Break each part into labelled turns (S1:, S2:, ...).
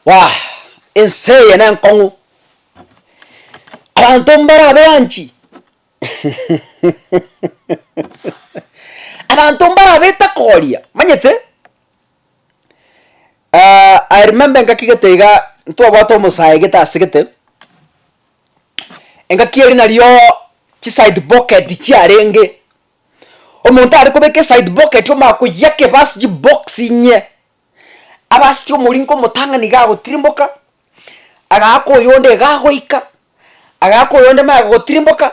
S1: Waah! Ense eye nenkong'u, abanto mbare abeanchi abanto mbare abete koria, omanyete? I remember engaki gete igaa ntwabwate omosae gete ase gete, engaki eria nario chisaidi bokedi chiarenge. Omonto are kobeka eside pocket omakoyia kebe ase chibox inye, abe ase chiomoringo omotang'ani iga agotirimboka, agaaka oyonde iga agoika, agaaka oyonde magega gotirimboka,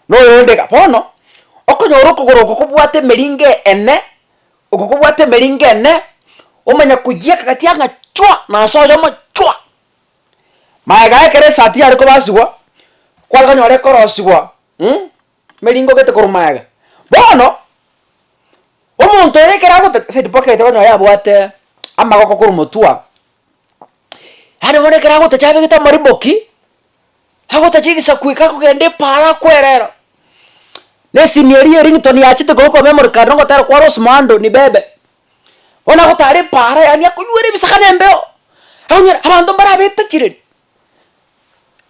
S1: na oyonde iga. Bono, okonyora okogoro oko kobwate emeringo ene, oko kobwate emeringo ene, omanya koyia akagati ang'a chwa, na ase oyomo chwa. Magega ekero esati yare kobasigwa, kware konyora ekorosigwa mh. Meringogete korwa magega. Bono, omonto oyo ekero agoteta said pocket onye oyo abwate amagoko korwa motwe aa, yaani bono ekero agotecha abegete amariboki, agotecha egesaku eke akogenda epaaro akwerera, na esini eria ya ringtone yachete korwa kwa memory card ogotera kwa Rose Muhando ni bebe. Bono agotara epaara yaani akonywera ebisaga na embeo, abanto mbarabete chiredi.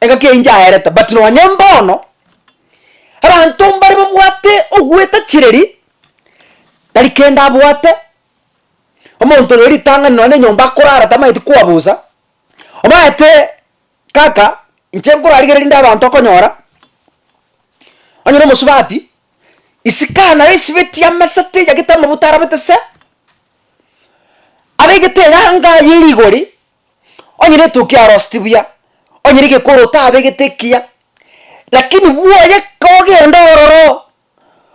S1: Egaki eyio nchaerete but nonye mbono abanto mbare babwate ogwetachireri tari kende abwate, omonto rero ritang'ani nonye na enyomba akorara tamanyeti kwabusa, omanyete kaka inche nkorarigereria rinde abanto okonyora onye na omosubati isiko naye esibeti amesete eyagete amabuta arabete se, abegete eyanga eye rigori. Onye rituko kiaroseti buya, onye rigekoro otabegete ekiya, lakini bwoye kogenda ororo oo,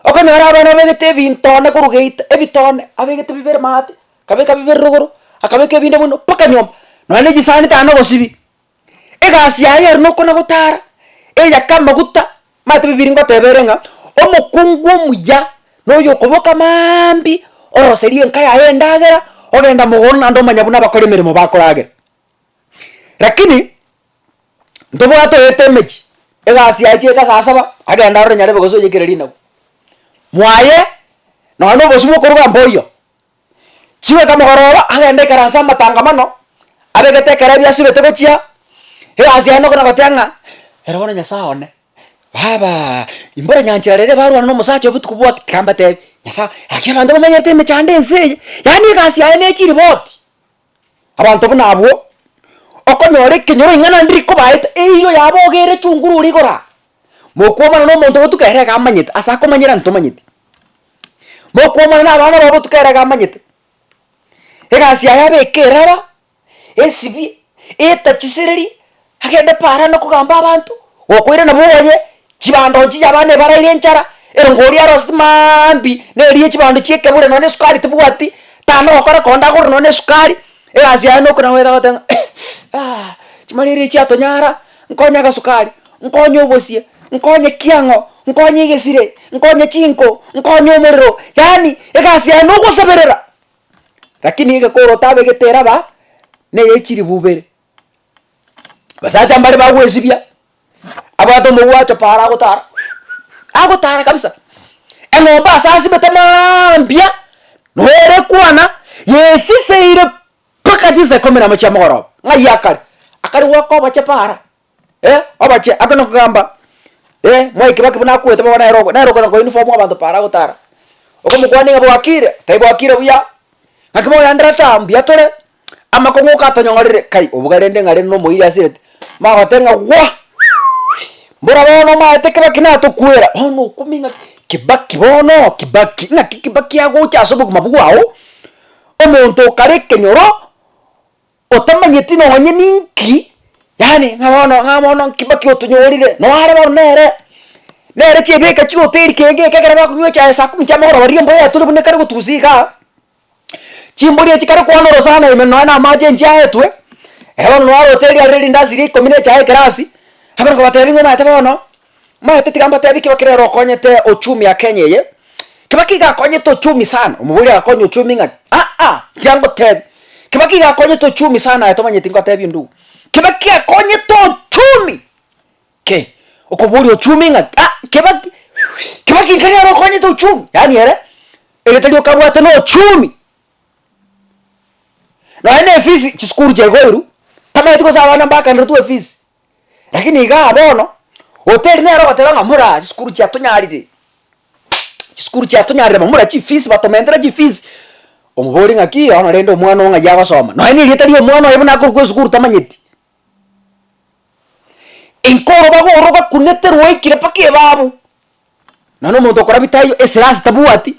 S1: okonyora abana babegete ebintone korwa geita, ebitone abegete bibere maate, akabeka bibere rogoro, akabeka ebinde buna mpaka nyomba, nonya na echisani tari nogosibia, egasi yaye ere nokona gotara, eyaka amaguta. Matibi biri ngoteba ere ng'a, Omokungu omuya noyo okoboka mambia oroserie enka yaye endagera, ogenda mogondo naende omanya buna abakora emeremo bakoragera. Rakini ntobwate oete emechie, egasi yaye chiaete saa saba, agenda arore Nyarebe gose oyekereri inagu. Mwaye, nonya nobosio bokoroba mboyo. Chigoika mogoroba agende ikaranse amatangamano, abegete ekero ebiasubete gochia, egasi yaye nokona gotea ng'a, ere bono Nyasae one, Baba, imbore nyanchera rere barwane na omosacha obotuko bwake, tiga mbatebi, Nyasae, gaki abanto bamenyerete emechando ense eye, yaani egasi yaye ne chiriboti. Abanto buna abwo, okonyora ekenyoro ing'ana ndi rikobaete, eirwe yabo oga ere chunguru ore igoro aa. Mokwomana nomonto obotuka ere iga amanyete, ase akomanyera onde tomanyeti. Mokwomana nabana bao obotuka ere iga amanyete. Egasi yaye abe ekerara, esibi, etachisiriri, Agende Parani okogamba abanto, gokoira nabwo oye, chibando nchiya abana ebaraire enchara, erongo oria aroseti maambi nerie chibando chiekebure nonya nesukari tebwati, tana ogokora konde agore nonya nesukari, egasi yaye nokona goeta gote ng'a aah chimarere echi chiatonyara, nkonye agasukari, nkonye obosie, nkonye ki ang'o, nkonye egesire, nkonye chinko, nkonye omorero, yaani egasi yaye nogosaberera, lakini egekoro otabegete eraba neye chiribu ibere. Abasacha mbare bagwesibia, abwate omogwacho para agotara, agotara kabisa, eng'ombe ase asibete mambia, noyo ere kwana, yesiseire mpaka chinsa ikomi namo chiamogoroba, ng'ai akare, akare goaka oboche para, eh oboche ake nokogamba Mwai Kibaki buna akwete bono nere oko nere okona koinform abanto para agotara, okomokwania ng'a bwakire, tai bwakire buya, ng'aki moyendera taa mbuya tore. Amakong'u katonyong'orire kai obuga rende ng'a rende nomoiri asirete, magote ng'a gwa! Mbora bono omaete kibaki natokwera, bono okumia ng'a kibaki bono kibaki, ng'aki kibaki agocha ase obogima bwao, omonto okare ekenyoro, otamanyeti nonye ninki, yaani ng'a bono ng'a bono kibaki otonyorire, no are bono nere, nere chiebeka chigoteiri kegeka ekero bakonywa echae saa kumi chiamagoroba riria embura yaturi buna ekare gotugusa igaa. Chimbori echi kare kwana oro sana ime nonya na amache inche aetwe, ere bono nonya arote eria rire rindasi ria ikomi na echaye ekerasi, abere kobatebia ng'a omanyete bono, omanyete tiga mbatebie kebe kere ere okonyete ochumi ya Kenya eye, Kibaki iga akonyete ochumi sana, omobori agakonya ochumi ng'aki? Aa tiga ngotebie, Kibaki iga akonyete ochumi sana aye tomanyeti ngotebie onde ogo, Kibaki akonyete ochumi. Kei, okoboria ochumi ng'a ah Kibaki, Kibaki nkaria ere okonyete ochumi, yaani ere egete rioka abwate na ochumi. Nonya na efisi chisukuru chiagoirwe, tamanyeti gose abana mbakanderetwe efisi, lakini igaa bono, hoteli nere ogoteba ng'a moraa chisukuru chiatonyarire, chisukuru chiatonyarire mamura chifisi batomentera chifisi, omoborie ng'aki, yono rende omwana oo ng'ai agosoma, nonya na erieta ria omwana oye buna akorokwa esukuru tamanyeti. Enkoro bagoro gakunete rwaikire mpaka ebabu, nonya omonto okorabia taiyo esirasi tabwati,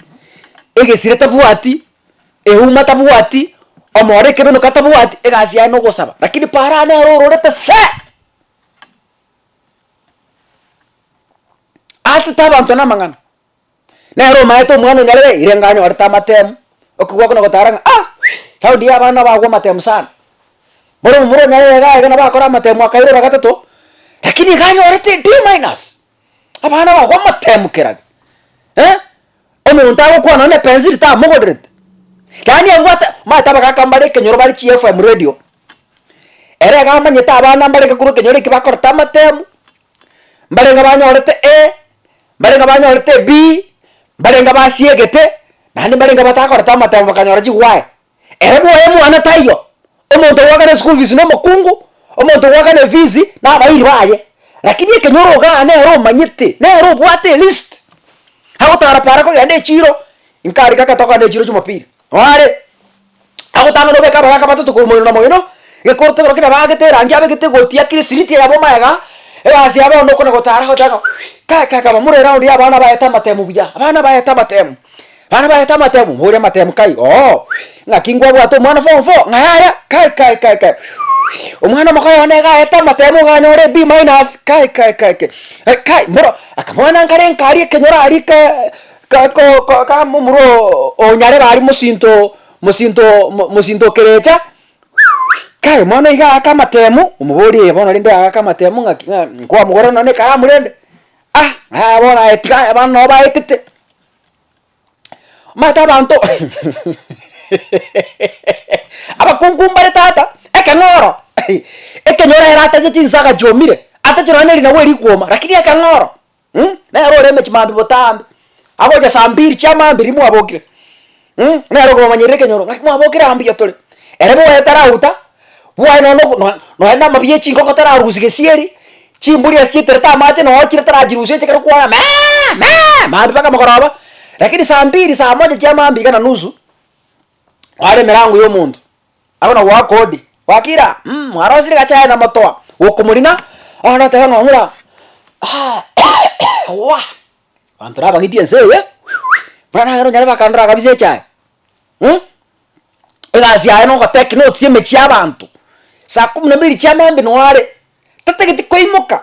S1: egesire tabwati, euma tabwati, omoro ekebenuka tabwati, egasi yaye nogosaba, lakini para nero ororete see! Atete abanto namang'ana, Nere omaete omwana onyarere ire nga anyorete amatemu, okogwa kona gotara ng'a ah raundi ya abana nabagwa amatemu sana. Bono omomura onyarere iga iga nabo akore amatemu akaira ora gatato, rakini iga anyorete D minus. Abana bagwa amatemu kera ge eh, omonto agokwana nonye epensiri tamogoderete, yaani abwate omanyete abagaka mbare ekenyoro bare chi FM radio, ere iga amanyete abana mbarenge korwa ekenyoro ekio bakorete amatemu, mbarenge banyorete A, Mbarenge abanyorete ebii, mbarenge abasiegete, naende mbarenge abatakorete amatemo bakanyora chigwae. Ere bwoye omwana taiyo, omonto ogoakana eschool fees na omokungu, omonto ogoakana efees na abairi baye. Lakini ekenya ore igaa nere omanyete, nere obwate elist, agotara para kogenda echiro, inkare kaka tokogenda echiro chumapili, oare. agotang'ana obeke abayaka batato korwa moino na moino, gekoro tebero kere baagete erangi abegete egoti yakire siriti eyabo omayega, egasi yabo onde okona gotara agoteba ng'a kai kai kai bamorere aonde ya abana baete amatemu buya, abana baete amatemu, abana baete amatemu, moria amatemu kai ooh, ng'aki nkwabwate omwana form four ng'a yaya kai kai kai kai omwana omokayo one iga aete amatemu iga anyore B minus kai kai kai kai, eh kai moro akamoanankarenka aria ekenyoro aria kee. Kaka momura o nyarebe aria mosinto mosinto mosinto o kerecha kaye mono iga aake amatemu omoborie ee bono rende aake amatemu ng'aki ng'a nkwamogorera nonye na ekaramu rende ah aya bono aye tiga aye abana nabo baetete omanyete abanto abakungu mbare tata ekeng'oro ekenyoro ere atache chinsaga chiomire atache nonye na erinagu erikuoma lakini ekeng'oro. mm, nere ore emechi mambi botambe, agocha saa mbiri chiamambia riria mwabokire, mm, nere okobamanyerera ekenyoro ng'aki mwabokire aa mbuya tore, ere bwoye tarauta, bwoye nonya nogo no nonya na amabuya ya chingoko tararusia gesieri, chimburi ase chieterete amache nonya okire tarachirusia ekero kwaga meeeeee meeeee mambi mpaka mogoroba, rakini saa mbiri saa moja chiamambia iga na nusu, kware emerango ya omonto. Agwo nagwo akondi Wakira mm mwarosire gachae na motoa gokomorina bono noteba ng'a ng'ura aah wah abanto nabagiti ense eye buna nagere onyare bakandora kabisa echae mm egasi yaye nogo take notes emechie y'abanto saa kumi na mbili chiamambia noo are tatageti koimoka.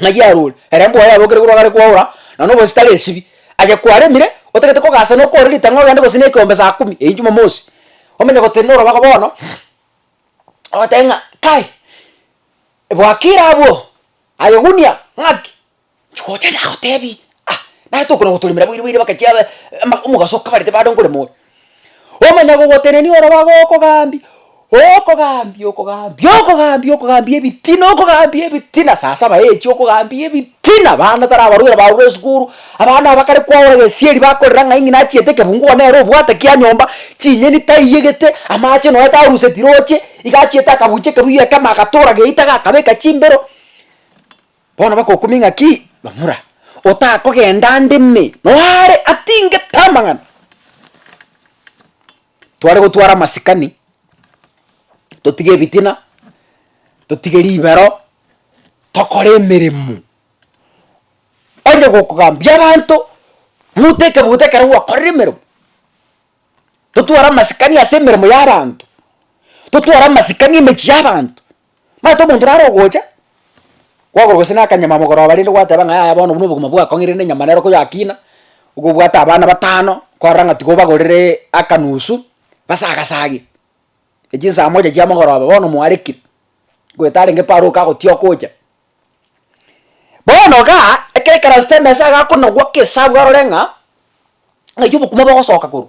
S1: ng'ai yarure, ere mbwa yabokire korwa gare kwaora, na nonya obosio tari esibi, aye kwaremire, otagete kogasa na okore ritang'o ogende gose na ekeombe saa kumi eyio jumamosi, omenye gotenena orobaga bono, ogoteba ng'a kai, bwakire abwo, aye egunia, ng'aki, inche gocha nagotebi, ah, naye tokona gotoremera boiri boire bakechia be ama omogaso okabarete bado nkorema ore. Omonyagogotenenia ore obaga okogambia, okogambia, okogambia, okogambia, okogambia ebitina, okogambia ebitina, saa saba echi okogambia ebitina, abana tari abarwaire barure esukuru, abana abakare kwaura gesieri bakorera ng'ai ng'ina achiete ekebungu igo nere obwate kia nyomba, chinyeni taiyegete, amache nonye tarusetire oche, iga achiete akabucha ekebuyu ekemo agatora geita gakabeka chimbero. Bono bakokumia ng'aki bamura, otakogenda ande me noare atingete amang'ana. Tware gotwara amasikani, totige ebitina, totige ribero, tokore emeremo, onye gokogambia abanto, buta ekebuto ekero gwakorire emeremo, totware amasikani ase emeremo y'abanto, totware amasikani emechie y'abanto. Maete omonto naro ogocha, kwagora gose na akanyama mogoroba rende gwateba ng'a yaya bono buna obogima bwakong'e rende enyama nero koyakina, nigo obwate abana batano, korora ng'a tiga obagorere akanusu base agasagia, echio nsaa moja chia mogoroba bono mwarekire, goeta arenge Paulo kagotiyoka ocha. Bono igaa, ekero ekaransete emesa iga akonagwa kesabu arore ng'a, ng'ai obokima bogosoka korwa.